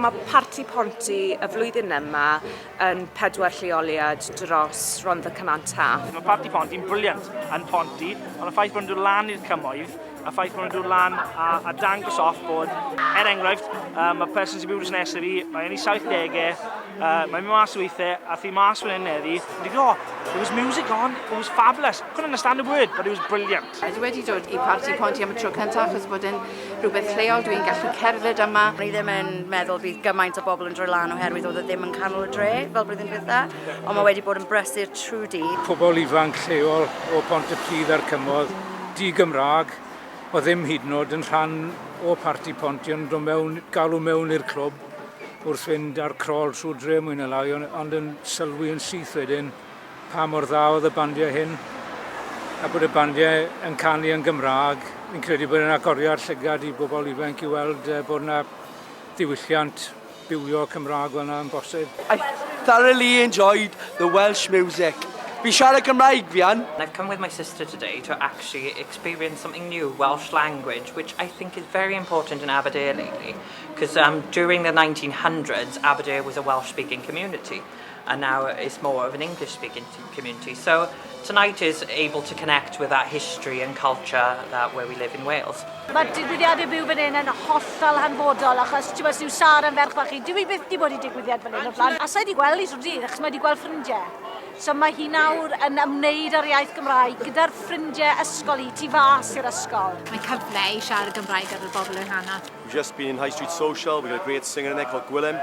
Mae Parti Ponty y flwyddyn yma yn pedwar lleoliad dros Rondda Cynan Taf. Mae Parti Ponty'n briliant yn Ponty, ond y ffaith bod nhw'n dod lan i'r cymoedd, y ffaith bod nhw'n dod lan a, a dangos off bod, er enghraifft, uh, mae person sy'n byw dros nesaf fi, mae'n ei 70au, uh, mae'n mynd mas weithiau, a thi mas fan hyn eddi, wedi go, there was music on, it was fabulous, couldn't understand a word, but it was brilliant. Dwi wedi dod i Parti Ponty am y tro cyntaf achos bod e'n rhywbeth lleol, dwi'n gallu cerdded yma. O'n i ddim yn meddwl bydd gymaint o bobl yn droi lan oherwydd oedd e ddim yn canol y dre fel blwyddyn dwytha, ond mae wedi bod yn brysur trwy dydd. Pobl ifanc lleol o Bont-y-pridd a'r Cymoedd, di-Gymraeg, oedd ddim hyd yn oed yn rhan o Parti Ponty ond o mewn, galw mewn i'r clwb wrth fynd ar crol trwy dre mwy na lai ond yn sylwi yn syth wedyn pa mor dda oedd y bandiau hyn, a bod y bandiau yn canu yn Gymraeg. Fi'n credu bod e'n agoriad llygad i bobl ifanc i weld uh, bod yna ddiwylliant bywio Cymraeg fel yna yn bosib. I thoroughly enjoyed the Welsh music. Fi'n siarad Cymraeg fi yn. And I've come with my sister today to actually experience something new, Welsh language, which I think is very important in Aberdare lately, because um, during the 1900s, Aberdare was a Welsh-speaking community. and now it's more of an English speaking community. So tonight is able to connect with that history and culture that where we live in Wales. Mae digwyddiadau byw fan hyn yn hollol hanfodol achos ti'n meddwl Sara yn ferch fach i, dwi byth di bod i digwyddiad fan hyn o blaen. A sa'i di gweld i swn dydd achos mae di gweld ffrindiau. So mae hi nawr yn ymwneud â'r iaith Gymraeg gyda'r ffrindiau ysgol i, tu fas i'r ysgol. Mae cyfle i siarad Gymraeg ar y bobl yn hana. We've just been in High Street Social, we've got a great singer in there called Gwilym.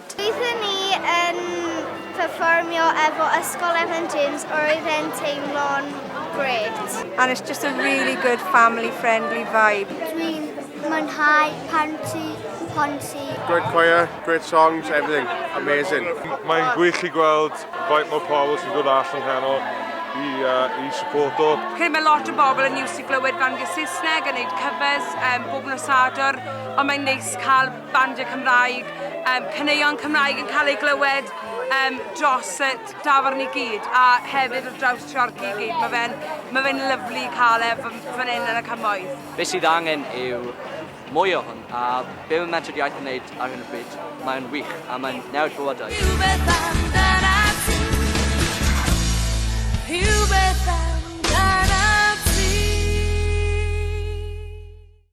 Doeddwn ni yn perfformio efo Ysgol Evan James a roedd e'n teimlo'n grêt. And it's just a really good family friendly vibe. Dwi'n mwynhau pan ti Ponty. Great choir, great songs, everything. Amazing. Mae'n gwych i gweld faint mor pobl sy'n dod all yn heno i, uh, i supporto. Credu mae lot o bobl yn iws i glywed fan gyda Saesneg yn neud covers um, bob nos Sadwr, ond mae'n neis cael bandiau Cymraeg, yym caneuon Cymraeg yn cael eu glywed yym dros y dafarn i gyd a hefyd wrth draws Treorci i gyd. Mae fe'n ma fe'n lyfli cael e fan hyn yn y cymoedd. Be sydd angen yw mwy o hwn a be mae Menter Iaith yn wneud ar hyn o bryd, mae o'n wych a mae'n newid bywydau. Rhywbeth amdanat ti Rhywbeth amdanat ti